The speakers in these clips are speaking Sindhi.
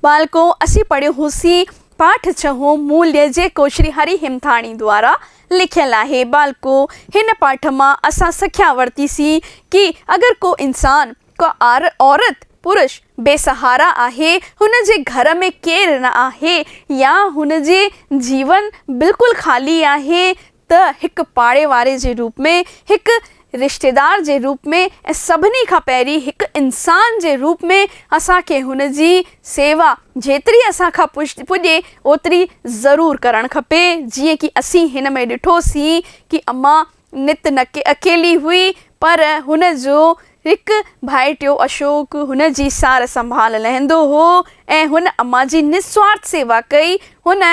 ٻالڪو، اسين پڙهيو هوسين پاٺ ڇهون موليء جيڪو شري هري هيمٿاڻي دوارا لکيل آهي. ٻالڪو، هن پاٺ مان اسان سکيا ورتي سين ڪي اگر ڪو انسان، ڪا عورت، پرش، بي سهارا آهي، هن جي گهر ۾ ڪير نه آهي يا هن جي جيون بلڪل خالي آهي ته هڪ پاڙي واري جي روپ ۾، هڪ رشتيدار جي روپ ۾، ۽ سڀني کان پهرين هڪ انسان جي روپ ۾ اسان کي هن جي سيوا جيتري اسان کان پڄي اوتري ضرور ڪرڻ کپي. جيئن ڪي اسين هن ۾ ڏٺو سين ڪي اما نت نه ڪي اڪيلي هئي پر هن جو هڪ ڀائٽيو اشوڪ هن جي سار سنڀال لهندو هو ۽ هن اما جي نسوارٿ سيوا ڪئي. هن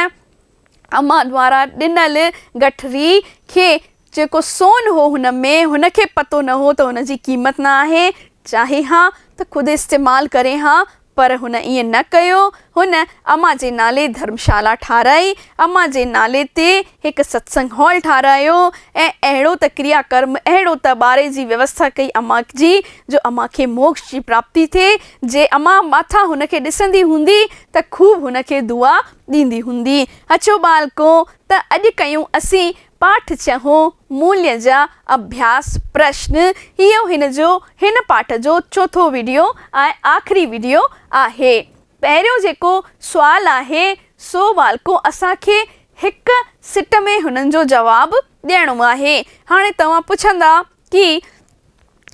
امان وارا ڏنل گٺري کي جيڪو سون هو هن ۾، هن کي پتو نه هو ته ان جي قيمت نه آهي، چاهي ها ته خود استعمال ڪري ها، پر هن ائين نه ڪيو، هن امان جي نالي ڌرمشالا ٺاهرائي، امان جي نالي تي هڪ ستسنگ هال ٺاهرايو ۽ اهڙو ته ڪريا ڪرم، اهڙو ته ٻاري جي ويوسٿا ڪئي امان جي جو امان کي موڪش جي پراپتي ٿئي، جي امان ماٿان هن کي ڏسندي هوندي ته خوب هن کي دعا ڏيندي هوندي. اڇو ٻالڪو، ته اڄ ڪيون اسين پاٺ ڇهون، موليء جا اڀياس پرشن. اهو هن جو هن پاٺ جو چوٿون وڊيو ۽ آخري وڊيو آهي. پهريون جيڪو سوال آهي، سو ٻالڪو اسان کي هڪ سٽ ۾ هنن جو جواب ڏيڻو آهي. هاڻي توهان پڇندا ڪي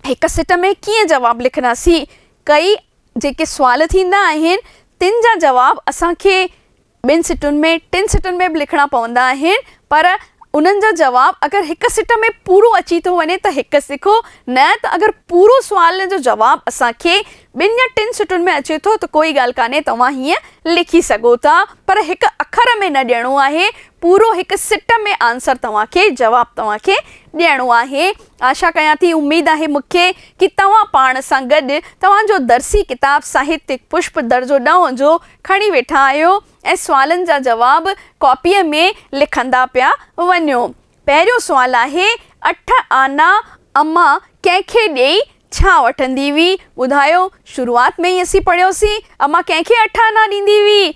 هڪ سٽ ۾ ڪيئن جواب لکنداسين؟ ڪئي جيڪي سوال ٿيندا آهن تن جا جواب اسان کي ٻن سٽن ۾ ٽن سٽن ۾ به لکڻا پوندا آهن پر انهن جا جواب اگر هڪ سٽ ۾ پورو اچي ٿو وڃي ته هڪ سکو نه ته اگر پورو سوال جو جواب اسان کي ٻن يا ٽن سٽن ۾ اچي ٿو ته ڪوئي ڳالهه ڪانهي توهان هيئن لکي سگهو ٿا پر هڪ اکر ۾ نه ڏيڻو آهي پورو هڪ سٽ ۾ آنسر توهان کي جواب توهان کي ڏيڻو آهي آشا ڪيان ٿي اميد آهي مون کي ڪي توهان پاڻ سان گڏ توهان جو درسي ڪتاب ساهتيڪ پشپ درجو ڏهون جو کڻي ويٺا آهيو ۽ سوالن جا جواب ڪاپيء ۾ لکندا پيا وڃو. پهريون سوال آهي، اٺ آنا امان ڪنهن کي ڏيئي ڇا وٺندي هئي؟ ٻڌايو، شروعات ۾ ئي اسين پڙهيوسين، امان ڪنهن کي اٺ آنا ڏيندي هئي؟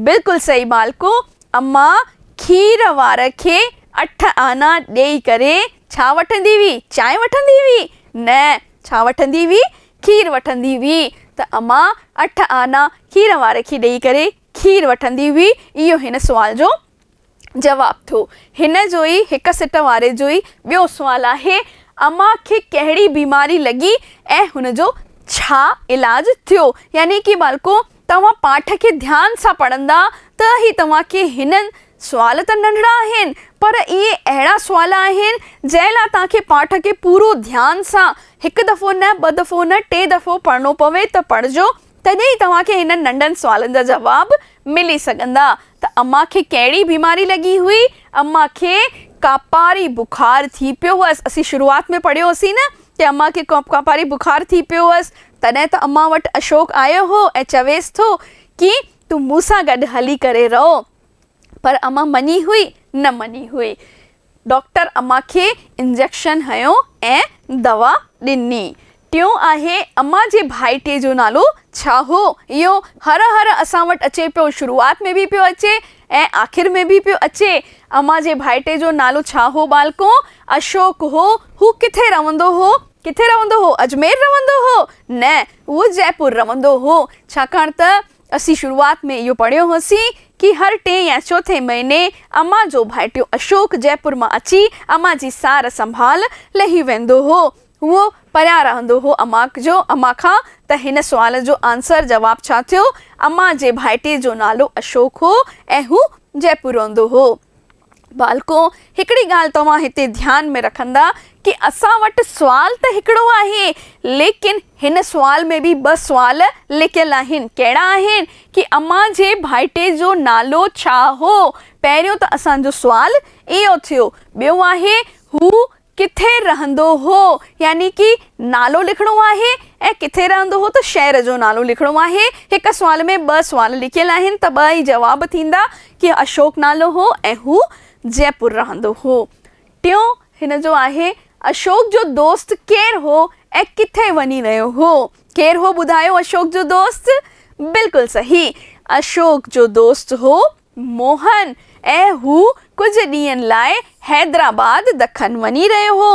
بلڪل صحيح ٻالڪو، امان کير وار کي اٺ آنا ڏيئي ڪري ڇا وٺندي هئي؟ چانهه وٺندي هئي؟ نه، ڇا وٺندي هئي؟ کير وٺندي هئي. ته امان اٺ آنا کير واري کي ڏيئي ڪري کير وٺندي هئي. اهو هن سوال جو جواب ٿيو. هن جو ئي هڪ سٽ واري جو ئي ٻيو سوال آهي، امان کي ڪهڙي بيماري لڳي ۽ هن جو ڇا علاج ٿيو؟ يعني ڪي ٻالڪو توهان پاٺ کي ڌيان سان پڙهندا ته هي توهان کي هن سوال ته ننڍڙا آهن پر اهي اهڙا سوال آهن جنهن لاء توهان کي پاٺ کي پورو ڌيان سان هڪ دفعو نه ٻه دفعو نه ٽي دفعو پڙهڻو پوي ته پڙهجو تڏهن ئي توهان کي هنن ننڍن سوالن جا جواب ملي سگهندا ته امان کي ڪهڙي بيماري لڳي هئي امان کي ڪاپاري بخار ٿي پيو هئس اسين شروعات ۾ پڙهيو هوسين نه ته امان کي ڪاپاري بخار ٿي پيو هئس تڏهن ته امان وٽ اشوڪ آيو هو ۽ چويس ٿو ڪي تون مون سان گڏ هلي ڪري رهو. پر امان مڃي هئي؟ نه مڃي هئي. ڊاڪٽر امان کي انجيڪشن هنيو ۽ دوا ڏني. ٽيون آهي امان جي ڀائٽي جو نالو ڇا هو؟ اهو هر هر اسان وٽ اچي پيو. شروعات ۾ به پيو اچي ۽ آخر ۾ به پيو اچي. امان جي ڀائٽي جو نالو ڇا هو ٻالڪو؟ اشوڪ هو. هو ڪٿي رهندو هو؟ ڪٿي رهندو هو؟ اجمير رهندو هو؟ نه، هو جئپور رهندو هو، ڇاڪاڻ ته اسين شروعات ۾ اهو پڙهيو هوسين ڪي هر ٽئين يا چوٿين مهيني امان جو ڀائٽيو اشوڪ جئپور مان اچي امان جي سار سنڀال لهي ويندو هو. هو پريان رهندو هو امان جو امان کان ته هن سوال جو آنسر، جواب، ڇا ٿيو؟ امان جي ڀائٽي جو نالو اشوڪ هو ۽ هو جئپور رهندو هو. ٻالڪو، هڪڙي ڳالهه توهان هتي ڌيان ۾ رکندا ڪي اسان وٽ سوال ته هڪڙو آهي، ليڪن هن سوال ۾ به ٻه سوال لڪيل آهن، ڪهڙا آهن ڪي امان جي ڀائٽي جو نالو ڇا هو؟ پهريون ته اسان جو سوال اهو ٿيو، ٻيو آهي هو ڪٿي رهندو هو يعني ڪي نالو لکڻو آهي ۽ ڪٿي رهندو هو ته شهر جو نالو لکڻو آهي. هڪ سوال ۾ ٻه سوال لکيل آهن ته ٻه ئي جواب ٿيندا ڪي اشوڪ نالو هو ۽ هو جئپور رهندو هو. ٽيون هن جو آهي اشوڪ جو دوست ڪير هو ۽ ڪٿي وڃي رهيو هو. ڪير هو ٻڌايو اشوڪ جو دوست؟ بلڪل صحيح اشوڪ جو دوست هو موهن ۽ هو ڪجهه ڏينهن لاء حيدرآباد دکن وڃي رهيو هو.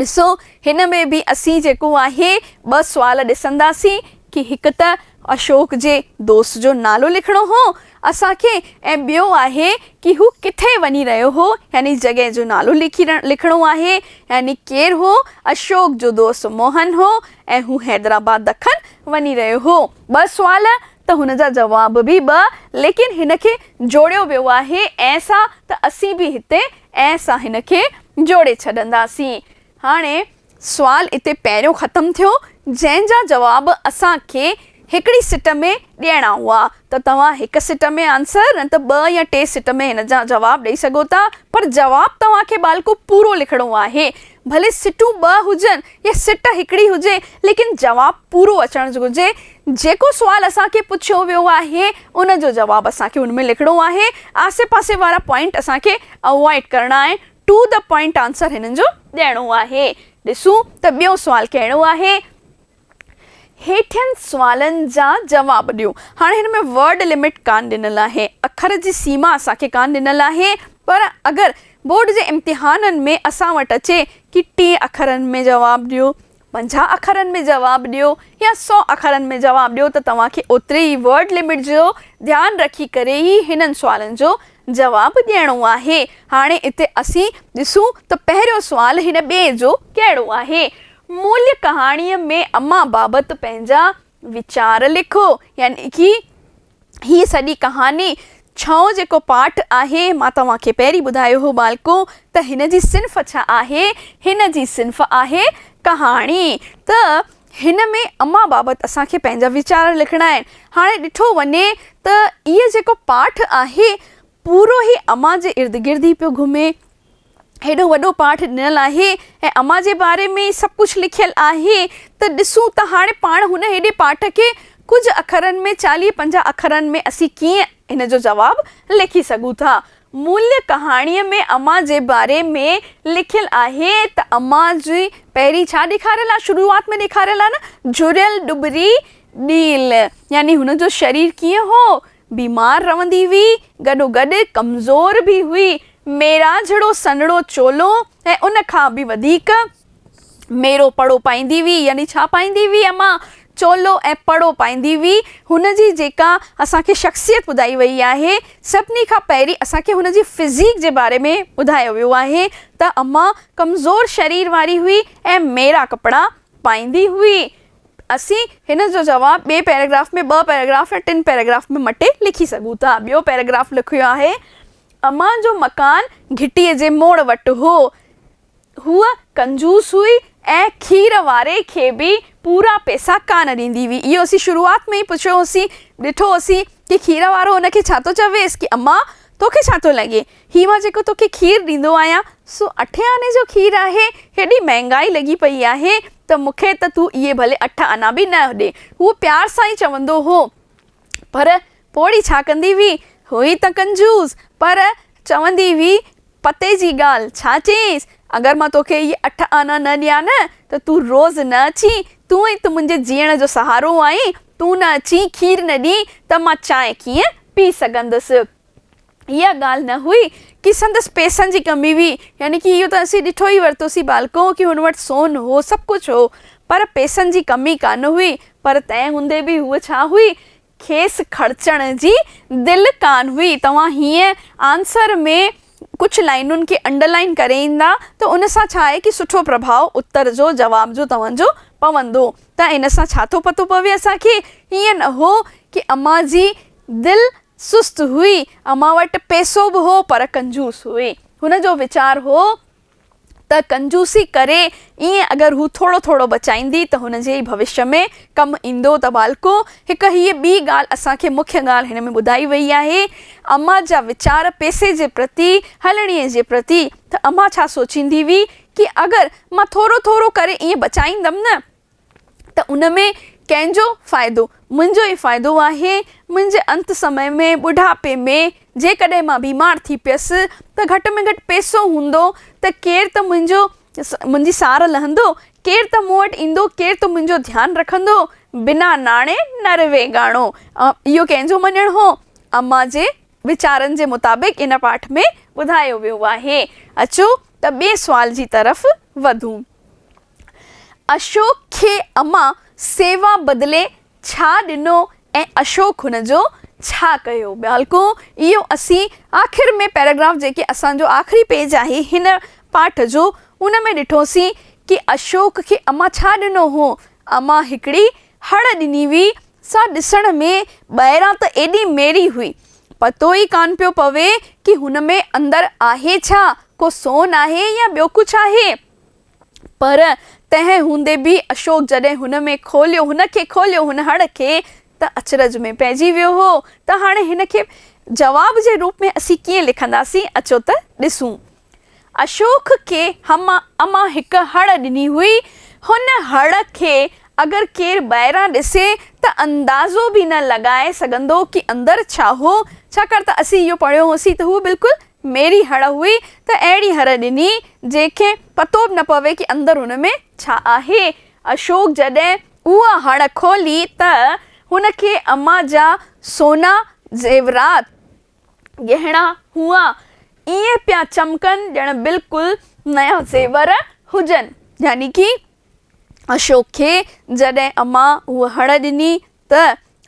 ڏسو هن ۾ به اسين جيڪو آهي ٻه سوال ڏسنداسين ڪي هڪ ته اشوڪ جي دوست جو نالو لکڻو هو اسان کي ۽ ٻيو آهي ڪي هو ڪٿي وڃي رهيو هو يعني جڳهه جو نالو لکي لکڻو آهي يعني ڪير هو اشوڪ جو دوست موهن هو ۽ هو حيدرآباد دکن وڃي رهيو هو ٻه سوال ته هن جا جواب به ٻه ليڪن هن کي جوڙيو ويو آهي ۽ سا ته اسين به هتي ۽ سا هن کي جوڙي ڇڏنداسين. هاڻي سوال اتي پهريون ختم ٿيو جنهن جا جواب اسان کي هڪڙي سٽ ۾ ڏيڻا هئا ته توهان هڪ سٽ ۾ آنسر نه ته ٻه يا ٽي سٽ ۾ هن جا جواب ڏئي سگهو ٿا پر جواب توهان کي ٻالڪو پورو لکڻو آهي ڀلي سٽون ٻه هجن يا سٽ هڪڙي هجي ليڪن جواب پورو اچڻ گهرجي جيڪو سوال اسان کي پڇيو ويو آهي ان جو جواب اسان کي ان ۾ لکڻو آهي، آسي پاسي وارا پوائنٽ اسان کي اوائڊ ڪرڻا آهن، ٽو دي پوائنٽ آنسر هنن جو ڏيڻو آهي. ڏسون ته ٻيو سوال ڪهڙو آهي. هيٺين سوالن جا جواب ڏيو. هاڻ هن ۾ ورڊ لمٽ ڪانه ڏنل آهي، اکر جي سيما اسان کي ڪانه ڏنل آهي، پر اگر بورڊ جي امتحانن ۾ اسان وٽ اچي ڪي ٽئين اکرن ۾ جواب ڏيو، پنجاهه اکرن ۾ جواب ڏيو يا سؤ اکرن ۾ جواب ڏيو ته توهان کي اوتري ئي ورڊ لمٽ جو ڌيان رکي ڪري ئي هنن سوالن جو جواب ڏيڻو آهي. هاڻي اتي اسين ڏسون ته پهريون سوال هن ٻئي جو ڪهڙو آهي. موليٰ ڪهاڻيء ۾ امان بابت پنهنجا ويچار لکو يعني ڪي هي سڄي ڪهاڻي ڇهون جيڪو پارٽ آهي مان توهان کي پهرين ٻڌايو هو ٻالڪو ته هن جي صنف ڇا آهي هن جي صنف آهي ڪهاڻي ته هن ۾ امان بابت اسان کي پنهنجا ويچار لکڻا آهن هاڻي ڏٺو وڃي ته اهي جيڪو پارٽ آهي پورو هي امان جي ارد گرد ئي پيو گهمي هيڏو وڏو پاٺ ڏنل آهي ۽ امان جي باري ۾ سڀ ڪجهه لکيل آهي ته ڏسون ته هاڻي پاڻ هن هيڏي پاٺ کي ڪجهه اکرن ۾ چاليهه پنجاهه اکرن ۾ اسين ڪيئن هن جو جواب لکي سگهون ٿا. ملهه ڪهاڻيء ۾ امان جي باري ۾ لکيل آهي ته امان جي پهرين ڇا ڏيکاريل آهي شروعات ۾ ڏيکاريل آهي نه جڙيل ڏٻري ڏيل يعني هن جو شرير ڪيئن هو بيمار رهندي هئي، گڏوگڏ ڪمزور به هئي. ميرا جھڙو سنھڙو چولو ۽ ان کان به وڌيڪ ميرو پڙو پائيندي هئي، يعني ڇا پائيندي هئي اما؟ چولو ۽ پڙو پائيندي هئي. هن جي جيڪا اسان کي شخصيت ٻڌائي وئي آهي، سڀني کان پهرين اسان کي هن جي فزيڪ جي باري ۾ ٻڌايو ويو آهي ته اما ڪمزور شرير واري هئي ۽ ميرا ڪپڙا پائيندي هئي. اسين هن جو جواب ٻئي پيراگراف ۾ ٻه پيراگراف يا ٽن پيراگراف ۾ مٽي لکي سگهون ٿا. ٻيو پيراگراف لکيو آهي، امان جو مڪان گهٽيء جي موڙ وٽ هو. هوء ڪنجوس هئي ۽ کير واري کي به پورا پئسا ڪانه ڏيندي هئي. اهو اسين شروعات ۾ ئي پڇيو هوسين، ڏٺو هوسين، ڪي کير وارو هن کي ڇا ٿو چويس ڪي امان، تو کي ڇا ٿو لڳي؟ هي مان جيڪو توکي کير ڏيندو آهيان، سو اٺين آني جو کير آهي. هيڏي مهانگائي لڳي پئي آهي، ته مون کي ته تون اهي ڀلي اٺ آنا به نه ڏي. هو پيار سان ئي چوندو هو، پر پوڙهي ڇا ڪندي هئي؟ هئي ته ڪنجوس، پر چوندي هئي پتي جي ڳالهه. ڇا چيس، اگر مان توکي اهي اٺ آنا نه ڏيان نه، ته تون روز نه اچين. تون ئي ته منهنجي جيئڻ جو سهارو آهين. تون نه اچين، کير نه ڏين، ته مان چانهه ڪيئن پي سگهندس؟ اها ڳالهه نه هئي ڪي سندس پئسن جي ڪمي هئي يعني ڪي اهو ته اسين ڏٺو ئي ورتوسين ٻالڪو ڪي هن وٽ سون هو سڀ ڪجهه هو پر پئسن جي ڪمي ڪانه هئي پر تنهن هوندي به هوء ڇا هئي کيس خرچڻ جي دل ڪانه هئي توهان هينئن آنسر ۾ ڪجهه لائنن کي انڊر لائن ڪري ايندا ته ان سان ڇا آهي ڪي سٺو پرڀاء اتر جو جواب جو توهان جو پوندو ته ان سان ڇا ٿو پتو پوي اسان کي هينئن نه هو ڪي امان جي دل سست هئي، امان وٽ پئسو به هو پر ڪنجوس هئي. هن جو ويچار هو ته ڪنجوسي ڪري ائين اگر هو ٿورو ٿورو بچائيندي ته هن جي ئي ڀوشيء ۾ ڪم ايندو ته ٻالڪو هڪ هيء ٻي ڳالهه اسان کي مکيه ڳالهه هن ۾ ٻڌائي ويئي آهي امان جا ويچار پئسي جي پرتي، هلڻيء جي پرتي ته امان ڇا سوچيندي هئي ڪي اگر مان ٿورو ٿورو ڪري ائين بچائيندم نه ته ان ۾ ڪنهن جو فائدو؟ منهنجو ئي فائدو آهي. منهنجي انت سمي ۾، ٻڍاپي ۾، جيڪڏهن مان بيمار ٿي پيس ته گهٽ ۾ گهٽ پئسو هوندو ته ڪير ته منهنجو منهنجي سار لهندو، ڪير ته مون وٽ ايندو، ڪير ته منهنجو ڌيان رکندو. بنا ناڻي نر ويڳاڻو. اهو ڪنهن جو مڃڻ هو؟ امان جي ويچارن جي مطابق ان پاٺ ۾ ٻڌايو ويو آهي. اچو ته ٻئي سوال جي طرف وڌون. اشوڪ کي امان سيوا بدلي ڇا ڏنو ۽ اشوڪ هن جو ڇا ڪيو؟ ٻالڪو، اهو اسين آخر ۾ پيراگراف جيڪي اسان جو آخري پيج آهي هن پاٺ جو ان ۾ ڏٺوسين ڪي اشوڪ کي امان ڇا ڏنو هو؟ امان هڪڙي هڙ ڏني هئي سا ڏسڻ ۾ ٻاهران ته ايڏي ميري هئي پتو ئي ڪانه پيو پوي ڪي هن ۾ اندر آهي ڇا ڪو سون آهي يا ٻيو ڪجهه آهي. پر تنهن هوندي به اشوڪ جڏهن هن ۾ کوليو، هن کي کوليو، هن هڙ کي، ته اچرج ۾ پئجي ويو هو ته هاڻي هن کي جواب جي روپ ۾ اسين ڪيئن لکنداسين، اچو ته ڏسون. اشوڪ کي هم اما هڪ هڙ ڏني هئي، هن هڙ کي اگر ڪير ٻاهران ڏسي ته اندازو به نه لڳائي سگهندو ڪي اندر ڇا هو، ڇاڪاڻ ته اسين اهو پڙهيو هوسين ته هو بلڪل ميري هڙ هئي ته اهڙي هر ڏني جنهن کي پتو به نه پوي ڪي اندر هن ۾ ڇا آهي. اشوڪ جڏهن اها هڙ کولي ته هن کي اما جا سونا زيورات، ڳهڻا، هئا ائين پيا چمڪن ڄڻ بلڪل نيا زيور هجن. يعني ڪي اشوڪ کي جڏهن اما اها هڙ ڏني ته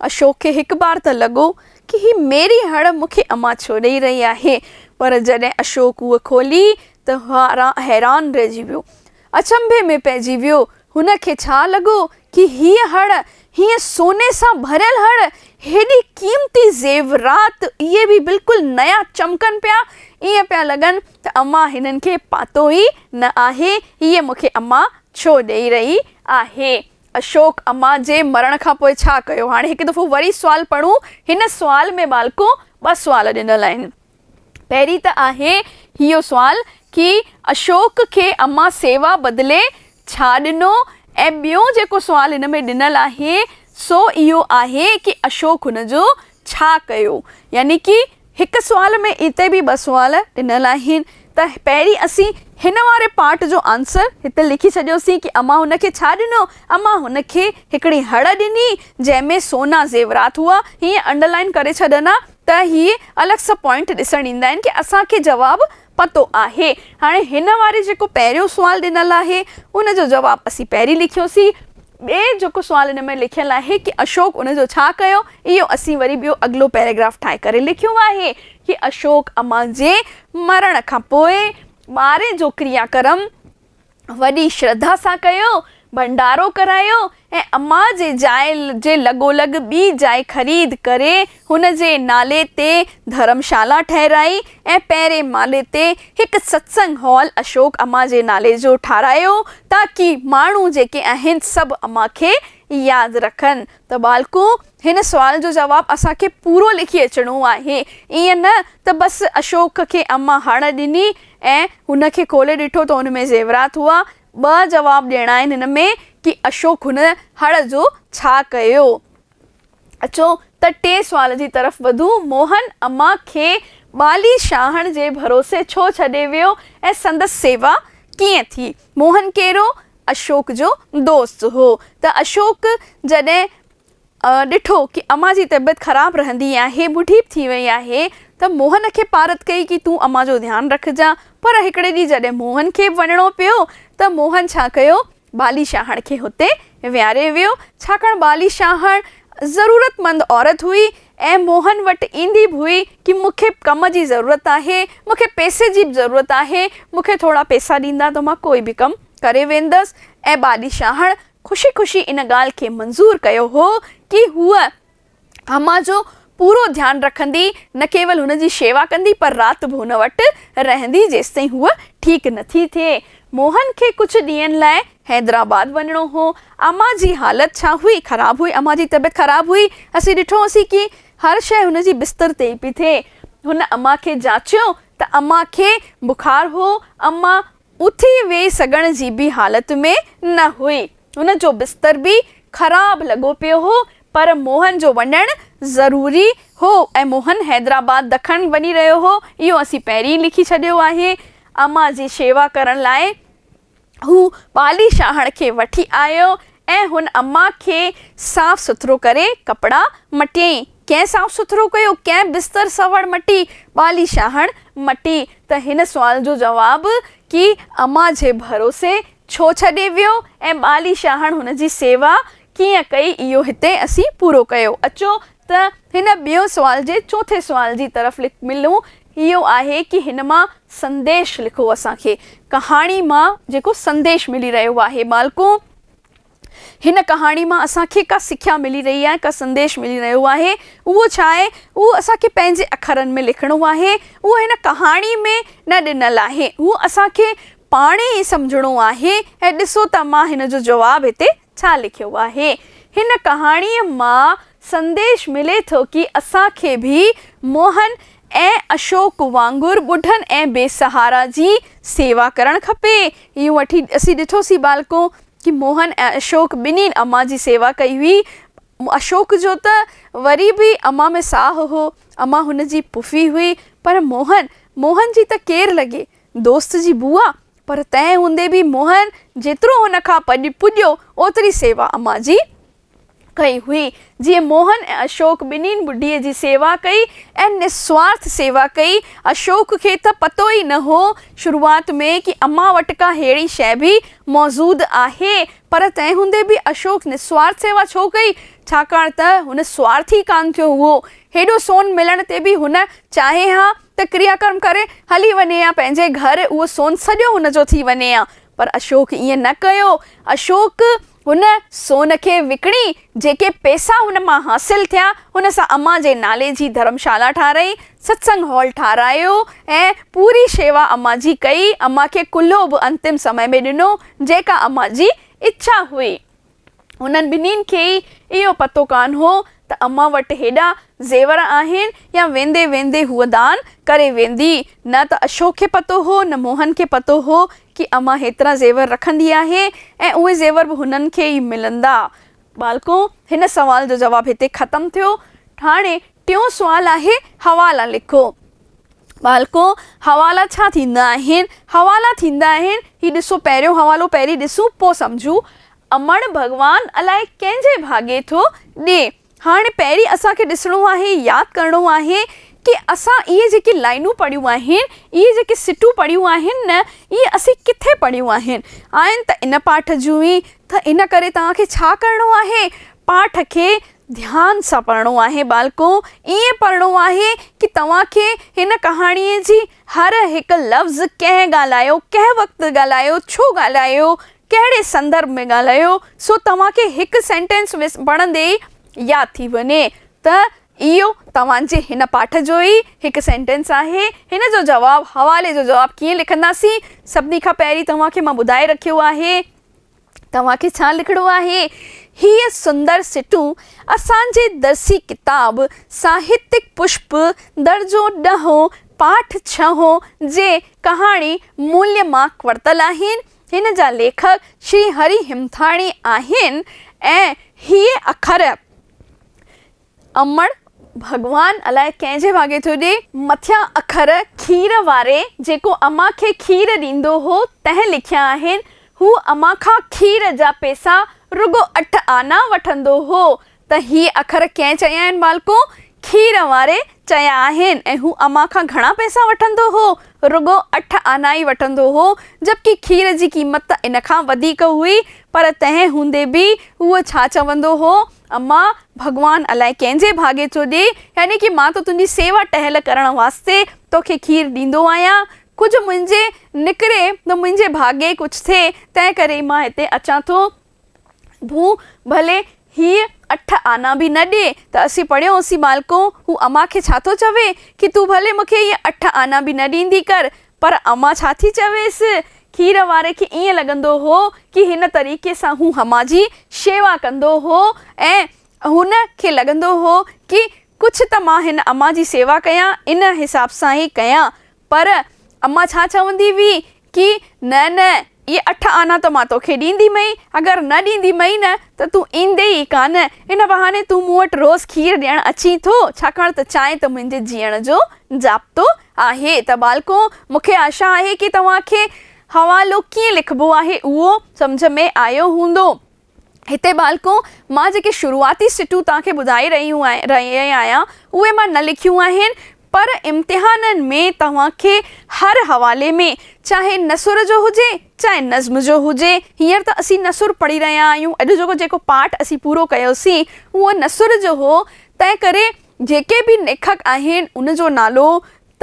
اشوڪ کي هڪ بار ته لڳو ڪي هي ميري هڙ مون کي امان ڇو ڏئي رهي آهي پر جڏهن اشوڪ هوء کولي ته حيران رهجي ويو. اچنڀي ۾ پئجي ويو. هن کي ڇا لڳو ڪي هيء هڙ، هيء سوني سان ڀريل هڙ، هيڏي قيمتي زيورات اهي به بلڪل نيا چمڪن پيا، ائين پيا لڳن ته امان هنن کي پاتو ئي نه آهي، هيء مون کي امان ڇو ڏئي رهي آهي. اشوڪ، امان جي مرڻ کان پوء ڇا ڪيو؟ هاڻي هڪ دفعو وري سوال پڙهون. هن سوال ۾ ٻالڪو ٻه سوال ڏنل آهن. پهرين ته آهي اهو سوال ڪي اشوڪ کي امان سيوا بدلي ڇا ڏنو ۽ ٻيو جيڪو سوال هن ۾ ڏنل آهي سو اهو آهي ڪي اشوڪ هن جو ڇا ڪيو؟ يعني ڪي هڪ سوال ۾ اتي به ٻه سوال ڏنل آهن ته پهرين اسين هن واري پارٽ جو آنسر هتي لکي ڇڏيوسين ڪي امان هن کي ڇا ڏنو؟ امان هن کي هڪڙي هڙ ڏني جنهن ۾ سونا زيورات هئا هيئن انڊرلائين ڪري ڇڏن ها ته هي الڳ سان پوائنٽ ڏسڻ ايندا آهن ڪي اسان کي جواب پتو آهي. هاڻي هن واري جيڪو پهريون سوال ڏنل آهي ان جو جواب اسين پهرين لکيوسين. ٻئي جيڪو سوال ان ۾ لکيل آهي ڪي اشوڪ ان جو ڇا ڪيو اهو اسين وري ٻيو اڳلو پيراگراف ٺاهي ڪري لکيو آهي ڪي اشوڪ امان جي مرڻ کان پوء ٻارهين جو ڪريا ڪرم وڏي شرڌا سان ڪيو، ڀنڊارو ڪرايو ۽ اما جي جاء جي لڳولڳ ٻي جاء خريد ڪري هن جي نالي تي ڌرمشالا ٺهرائي ۽ پهرين مالي تي هڪ ستسنگ هال اشوڪ اما جي نالي جو ٺاراهيو تاڪي ماڻهو جيڪي آهن سڀ اما کي ياد رکن ته ٻالڪو هن سوال جو جواب اسان کي پورو لکي اچڻو آهي ائين نه ته بس اشوڪ کي اما هڙ ڏني ۽ هن کي کولي ڏٺو ته ان ۾ زيورات هئا. ٻه جواب ڏيڻا آهن هن ۾ ڪي اشوڪ هن هڙ جو ڇا ڪيو؟ اچو ته ٽئين سوال جي طرف وڌون، موهن اما کي ٻالي شاهڻ جي ڀروسي ڇو ڇڏي ويو ۽ سندس سيوا ڪيئن ٿي؟ موهن ڪيرو؟ اشوڪ جو دوست هو ته اشوڪ جڏهن ڏٺو ڪي امان جي طبيعت خراب رهندي آهي، هو ڍيپ ٿي وئي آهي ته موهن کي پارت ڪئي ڪي تون امان جو ڌيان رکجان. پر هڪڙي ڏينهن جڏهن موهن کي به وڃڻو پيو ته موهن ڇا ڪيو بالي شاهڻ کي هتي ويهاري ويو ڇاڪاڻ بالي شاهڻ ضرورت مند عورت هئي ۽ موهن وٽ ايندي به هئي ڪي مون کي ڪم جي ضرورت آهي مون کي پئسي جي به ضرورت آهي مون کي ٿورا پئسا ڏيندا ته مان ڪوئي به ڪم ڪري ويندس ۽ بالي شاهڻ خوشي خوشي ان ڳالهه کي منظور ڪيو هو ڪي هوء امان جو پورو ڌيان رکندي، نه ڪيول هن جي شيوا ڪندي پر رات به هن وٽ رهندي جيستائين هوء ٺيڪ نه ٿي ٿئي. موهن کي ڪجهه ڏينهن لاء حيدرآباد وڃڻو هو. امان جي حالت ڇا هئي؟ خراب هئي. امان جي طبيعت خراب هئي. اسين ڏٺو هوسين ڪي هر شيء هن جي بستر تي ئي پئي ٿئي. هن امان کي جاچيو ته امان کي بخار هو. امان اٿي ويهي سگهڻ جي به حالت ۾ نه هئي. هن جو بستر به خراب لڳو پيو هو، پر موهن جو وڃڻ ضروري هو ۽ موهن حيدرآباد دکڻ وڃي رهيو هو، اهو اسين پهرين ئي لکي ڇڏيو آهي. امان جي شيوا ڪرڻ لاء هو پالي شاهڻ کي وٺي آيو. ۽ هن اما کي صاف سٿرو ڪري ڪپڙا مٽيائين. ڪنهن صاف سٿرو ڪيو، ڪنهن بستر سوڙ مٽي، ٻالي شاهڻ مٽي ته هن سوال جو جواب ڪي اما جي ڀروسي ڇو ڇڏي ويو ۽ ٻالي شاهڻ هن جي سيوا ڪيئن ڪئي اهو هتي اسين پورو ڪيو. اچو ته هن ٻئي سوال جي چوٿين سوال جي طرف ملون اهو آهي ڪي هن مان سنديش لکو اسان کي ڪهاڻي مان جيڪو سنديش ملي رهيو آهي ٻالڪو هن ڪهاڻي مان اسان کي ڪا سکيا ملي رهي آهي ڪا سنديش ملي رهيو آهي اهو ڇا آهي اهو اسان کي پنهنجي اکرن ۾ لکڻو آهي اهو هن ڪهاڻي ۾ نه ڏنل آهي اهو اسان کي پاڻ ئي سمجهڻو آهي ۽ ڏسو ته مان هن جو جواب هتي ڇا لکيو آهي هن ڪهاڻيء مان سنديش ملي ٿو ڪي اسان کي به موهن ۽ اشوڪ وانگر ٻڍن ۽ بي سهارا جي سيوا ڪرڻ کپي اهو وٺي اسين ڏٺوسين ٻالڪو ڪي موهن ۽ اشوڪ ٻنهين امان جي سيوا ڪئي هئي اشوڪ جو ته وري به امان ۾ ساهه هو امان هن جي پڦي هئي پر موهن موهن جي ته ڪير لڳي دوست جي بوء پر تنهن هوندي به موهن جيترو هن کان پڄ پڄيو، اوتري سيوا امان جي ڪئي هئي. جيئن موهن ۽ اشوڪ ٻنهين ٻڍيء جي سيوا ڪئي ۽ نسوارٿ سيوا ڪئي. اشوڪ کي ته پتو ئي نه هو شروعات ۾ ڪي امان وٽ ڪا ههڙي شيء به موجود آهي. پر تنهن هوندي به اشوڪ نسوارٿ سيوا ڇو ڪئي؟ ڇاڪاڻ ته هن سوارٿ ئي ڪانه ٿيو هئو. هيڏو سون ملڻ تي به هن چاهي ها ته ڪريا ڪرم ڪري هلي وڃي ها پنهنجي گهر اهو سون سڄو هن جو ٿي وڃي ها پر اشوڪ ائين نه ڪيو اشوڪ هن سون کي وڪڻي جيڪي پئسا هن مان حاصل ٿيا هن سان امان جي نالي جي ڌرمشالا ٺاهرائي ستسنگ هال ٺاهرايو ۽ پوري شيوا امان جي ڪئي امان کي ڪلهو به انتم سمي ۾ ڏنو جيڪا امان جي اڇا هئي انهن ٻنهين کي ئي اهو پتو ڪانه هو ته امان وٽ هيڏا زيور آهن يا ويندي ويندي هوء دان ڪري ويندي. نه ته اشوڪ کي پتو هو نه موهن کي پتو هو ڪي امان هيترا زيور رکندي آهي ۽ اهي زيور به هنن کي ئي ملندا. ٻالڪو، هن سوال جو جواب هتي ختم ٿيو. هاڻي ٽيون سوال آهي، حوالا لکو. ٻالڪو، حوالا ڇا ٿيندا آهن؟ حوالا ٿيندا آهن، هي ڏسو پهريون حوالو پهرين ڏسون پوء سمجهون. امڙ ڀڳوان الاء ڪنهن جي ڀاڳي ٿو ڏي. هاڻي پهرين اسان کي ڏسڻو آهي، ياد ڪرڻو آهي ڪي اسان اهي جيڪي لائينون پڙهيون آهن، اهي جيڪي سٽون پڙهيون آهن نه اهي اسين ڪٿي پڙهيون آهن. آهن ته ان پاٺ جون ئي ته ان ڪري توهان کي ڇا ڪرڻو آهي پاٺ کي ڌيان سان پڙهڻو آهي ٻالڪو، ائين پڙهڻو آهي ڪي توهان کي هن ڪهاڻيء جي هر هڪ لفظ ڪنهن ڳالهايو، ڪنهن وقت ڳالهايو، ڇو ڳالهايو، ڪهڙي سندرڀ ۾ ڳالهايو، سو توهان کي هڪ سينٽينس پڙهندي ئي ياد ٿي وڃي ته اهو توهان جي هن پاٺ جو ئي هڪ سينٽينس آهي. هن جو جواب، حوالي جو جواب ڪيئن لکنداسين؟ سڀني کان پهرين توهان کي مان ٻڌائي رکيو آهي. توهان کي ڇا لکڻو آهي؟ هيء سندر سٽون اسان جي درسي ڪتاب ساهتيڪ پشپ، درجو ڏهون، پاٺ ڇهون، جي ڪهاڻي موليء مان ورتل آهن. هن جا ليکڪ شري هري هيمٿاڻي آهن ۽ هيء اکر امڙ ڀڳوان الاء ڪنهن جي ڀاڳي ٿو ڏي. مٿيان اکر کير واري جيڪو امان کي کير ڏيندو هو تنهن لکيا آهن هو امان کان کير جا پيسا رڳو اٺ آنا وٺندو هو ته هي اکر ڪنهن چيا آهن مالڪو؟ کير واري چيا آهن ۽ هو امان کان گهڻا پيسا وٺندو هو رڳو اٺ آنا ئي وٺندو هو جبڪه کير جي قيمت ته ان کان وڌيڪ هئي پر تنهن هوندي به هو ڇا چوندو هو اما، ڀڳوان الائي ڪنهن جي ڀاڳي ٿو ڏئي، يعني ڪي مان ته تنهنجي سيوا ٽهل ڪرڻ واسطي توکي کير ڏيندو آهيان. ڪجهه منهنجي نڪري ته منهنجي ڀاڳي ڪجهه ٿئي، تنهن ڪري ئي مان هتي اچان ٿو. ڀو، ڀلي هيء اٺ آنا به نه ڏئي ته اسين پڙهيو هوسين مالڪو، هو اما کي ڇا ٿو چوي، ڪي تون ڀلي مون کي هيء اٺ آنا به نه ڏيندي ڪر، پر امان ڇا ٿي چويس؟ کير واري کي ائين لڳندو هو ڪي هن طريقي سان هو امان جي شيوا ڪندو هو ۽ هن کي لڳندو هو ڪي ڪجهه ته مان هن امان جي سيوا ڪيان ان حساب سان ئي ڪيان پر امان ڇا چوندي هئي ڪي نه نه اهي اٺ آنا ته مان توکي ڏيندي مئي، اگر نه ڏيندي مئي نه ته تون ايندي ئي ڪانه. ان بهاني تون مون وٽ روز کير ڏيڻ اچين ٿو، ڇاڪاڻ ته چانهه ته منهنجي جيئڻ جو ضابطو آهي. ته ٻالڪو، مون کي آشا آهي ڪي توهان کي حوالو ڪيئن لکبو آهي، اهو سمجهه ۾ آيو هوندو. هتي ٻالڪو، مان جيڪي شروعاتي سٽون توهان کي ٻڌائي رهي آهيان، اهي مان نه لکيون آهن، پر امتحانن ۾ توهان کي هر حوالي ۾، چاهي نثر جو هجي، چاهي نظم جو هجي، هينئر ته اسين نثر پڙهي رهيا آهيون، اڄ جو جيڪو پاٺ اسين پورو ڪيوسين، اهو نثر جو هو، تنهنڪري جيڪي به ليکڪ آهن، ان جو نالو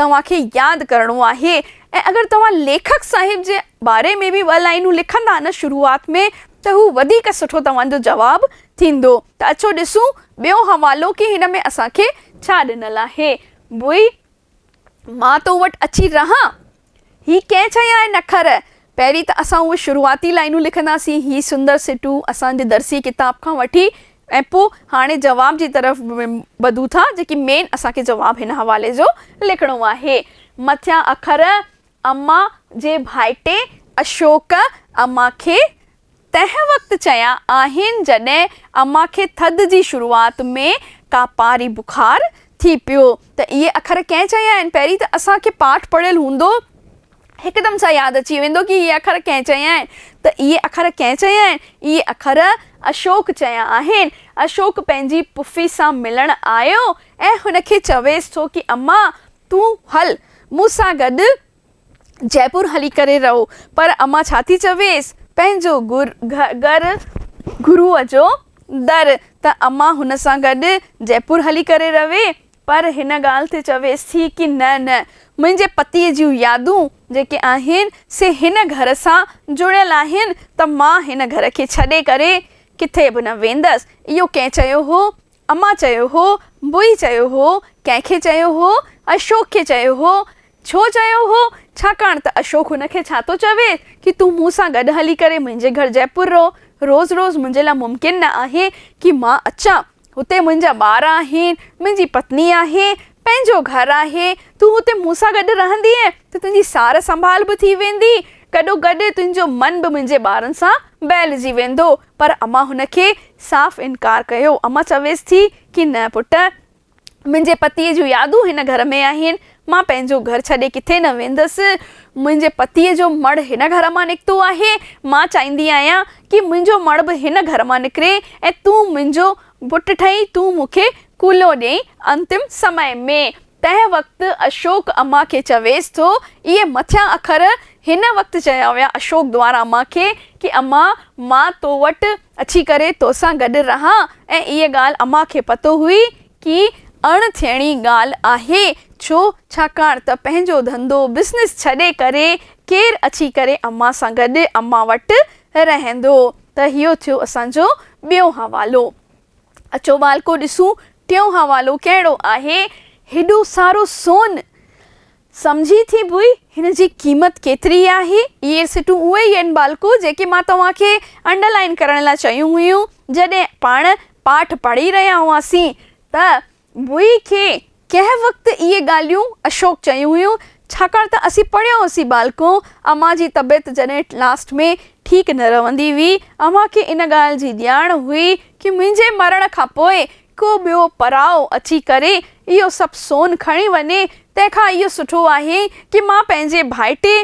توهان کي ياد ڪرڻو آهي ۽ اگر توهان ليکڪ صاحب جي باري ۾ به ٻه لائينون لکندا نه شروعات ۾ ته هو وڌيڪ سٺو توهان جو جواب ٿيندو ته اچو ڏسون ٻيو حوالو ڪي هن ۾ اسان کي ڇا ڏنل آهي ڀوئي مان تو وٽ اچي رهان هي ڪنهن چيا آهن اکر پهرين ته اسان اهي شروعاتي لائينون لکنداسين، هي سندر سٽون اسان جي درسي ڪتاب کان وٺي ۽ پوء هاڻي جواب جي طرف ٻڌون ٿا، جيڪي مين اسان کي جواب هن حوالي جو لکڻو آهي. مٿيان اکر اما جي ڀائٽي اشوڪ اما کي تنهن وقت چيا آهن جڏهن اما کي ٿڌ جي شروعات ۾ ڪا پاري بخار ٿي پيو ته اهي اکر ڪنهن چيا آهن؟ پهرين ته اسان کي پاٺ پڙهيل هوندو هڪدم سان ياد اچي ويندو ڪي اهي اکر ڪنهن چيا آهن ته اهي اکر ڪنهن چيا آهن؟ اهي اکر اشوڪ چيا آهن. اشوڪ پنهنجي پڦي سان ملڻ آيو ۽ هن کي چويس ٿو ڪي اما تون هل مون سان گڏ جئپور هلي ڪري رهو. پر امان ڇا ٿي چويس؟ پنهنجو گهر گروء جو در، ته امان هن سان گڏ جئپور هلي ڪري رهي، پر هن ڳالهه تي چويس ٿي ڪي نه نه، منهنجي پتيء جون يادون جيڪي آهن، سي هن گهر سان جڙيل آهن، ته مان هن گهر کي ڇڏي ڪري ڪٿي به نه ويندس. اهو ڪنهن چيو هو؟ امان چيو هو، بوئي چيو هو، ڪنهن کي چيو هو؟ اشوڪ کي چيو هو. ڇو چيو هو؟ ڇاڪاڻ ته اشوڪ هن کي ڇا ٿو چوي ڪي تون مون سان گڏ هلي ڪري منهنجي گهر جئپور رهو. روز روز منهنجي لاء ممڪن نه آهي ڪي مان اچان. هتي منهنجا ٻار آهن، منهنجي پتني آهي، پنهنجو گهر آهي. تون هتي مون سان گڏ رهندينء ته تنهنجي سار سنڀال به ٿي ويندي. گڏو گڏ تنهنجو من به منهنجي ٻارن سان بهلجي ويندو. پر امان هن کي صاف انڪار ڪيو. امان چويس ٿي ڪي نه پٽ، منهنجي پتيء جون يادون هن گهر ۾ آهن. مان پنهنجو گهر ڇڏي ڪٿي نه ويندس. منهنجي پتيء جو مڙهه هن گهر مان نڪتو آهي. مان چاهيندي آهيان ڪي منهنجو مڙهه به هن گهر مان نڪري ۽ تون منهنجو پٽ ٺهين، تون مون کي ڪلهو ڏيئين، انتم سمئي ۾. تنهن وقت اشوڪ امان کي چويس ٿو، اهي مٿيان اکر هن وقت چيا ويا اشوڪ دوارا امان کي ڪي امان مان تو وٽ اچي ڪري توسان گڏ رهان ۽ اهي ڳالهه امان کي پتو هئي ڪي اڻ ٿيڻي ڳالهه آهي ڇو ڇاڪاڻ ته پنهنجو ڌنڌو بزنس ڇڏي ڪري ڪير اچي ڪري امان سان گڏ امان وٽ رهندو ته هيو ٿيو اسان جو ٻيو حوالو. اچو والڪو ڏسون ٽيون حوالو ڪهڙو آهي. هيڏو سارو سون! سمجهي ٿي ڀوئي هن جي قيمت ڪيتري آهي؟ اهي سٽون اهي ئي آهن والڪو جيڪي مان توهان کي انڊر لائين ڪرڻ لاء چيون هيون جڏهن پاڻ پاٺ پڙهي رهيا هئاسين ته ڀوئي کي ڪنهن وقت اهي ڳالهيون اشوڪ چيون هيون ڇاڪاڻ ته اسين پڙهيو هوسين ٻالڪو اوهان جي طبيعت جڏهن لاسٽ ۾ ٺيڪ نه رهندي هئي اوهان کي ان ڳالهه جي ڄاڻ هئي ڪي منهنجي مرڻ کان پوء ڪو ٻيو پراو اچي ڪري اهو سڀ سون کڻي وڃي تنهن کان اهو سٺو آهي ڪي مان پنهنجي ڀائٽي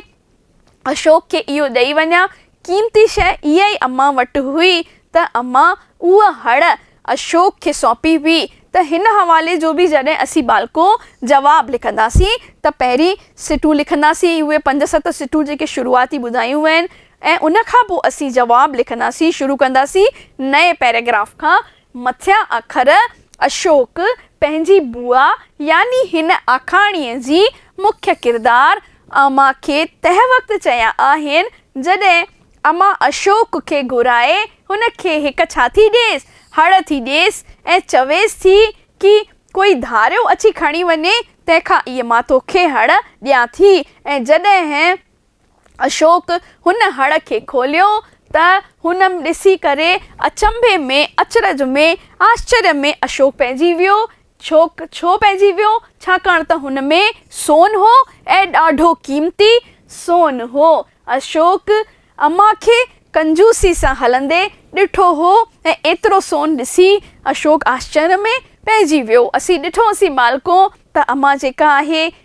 اشوڪ کي اهو ڏئي وڃان، قيمتي شيء اها ئي امان وٽ هئي ته امان اها هڙ اشوڪ کي سونپي هئي ته هن حوالي جو به جڏهن اسين ٻالڪو جواب لکنداسين ته پهرين سٽون لکنداسين اهي پنج ست سٽون جيڪي شروعاتي ٻڌايون وين ۽ ان کان پوء اسين جواب لکنداسين شروع ڪنداسين نئين پيراگراف کان مٿيان اکر اشوڪ پنهنجي بوا يعني هن آکاڻيء جي مکيه ڪردار اما کي تنهن وقت چيا آهن، جڏهن اما اشوڪ کي گهرائي هن کي هڪ ڇا ٿي ڏيس، هڙ ٿي ڏيس ۽ چويس ٿي ڪي ڪوئي ڌاريو اچي کڻي وڃي، تنهن کان اي مان توکي هڙ ڏيان ٿي ۽ جڏهن اشوڪ هن هڙ کي کوليو ته هن م ڏسي ڪري اچنڀي ۾ اچرج ۾ آشچريه ۾ اشوڪ پئجي ويو. ڇوڪ ڇو پئجي ويو؟ ڇاڪاڻ ته هن ۾ سون هو ۽ ڏاڍو قيمتي سون هو. اشوڪ امان کي ڪنجوسي سان هلندي ڏٺو هو ۽ ايترو سون ڏسي اشوڪ آشچريه ۾ پئجي ويو. اسين ڏٺوسين مالڪو ته امان جيڪا آهي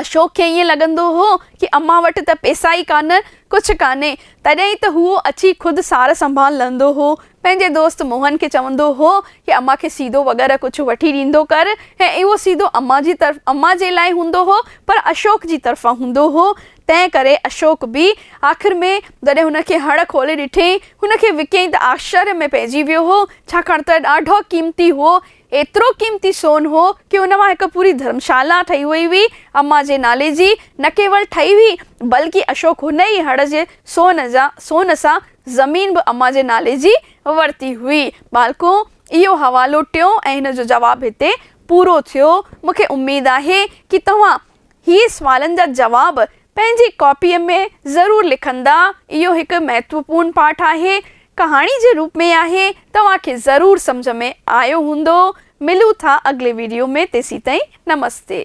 اشوڪ کي ائين لڳندو هو ڪي امان وٽ ته پيسا ئي ڪانه، ڪجهه ڪانهي، تڏهن ئي ته هو اچي خود سار سنڀال لهندو هو. پنهنجي دوست موهن کي چوندو هو ڪي امان کي سيدو وغيره ڪجهه وٺي ڏيندو ڪر ۽ اهو سيدو امان جي طرف امان جي لاء هوندو هو پر اشوڪ جي طرفان هوندو هو تنهن ڪري اشوڪ به آخر ۾ جڏهن هن کي هڙ کولي ڏٺئين هن کي وڪئين ته آشچريه ۾ پئجي ويو هو ڇاڪاڻ ته ڏاڍو قيمتي هو ايترو قيمتي سون هو ڪي ان مان هڪ پوري ڌرمشالا ٺهي وئي هئي، اما جي نالي جي، نه ڪيول ٺهي هئي، بلڪه اشوڪ هن ئي هڙ جي سون جا سون سان زمين به اما جي نالي جي ورتي هئي. ٻالڪو، اهو حوالو ٽيون ۽ هن جو جواب هتي پورو ٿيو. مون کي اميد آهي ڪي توهان هي سوالن جا جواب پنهنجي ڪاپيء ۾ ضرور لکندا. اهو هڪ مهتوپورن پاٺ آهي. ڪهاڻي جي روپ ۾ آهي. توهان کي ضرور سمجهه ۾ آيو هوندو. ملون ٿا اڳلي وڊيو ۾ تيسيتائين نمستي.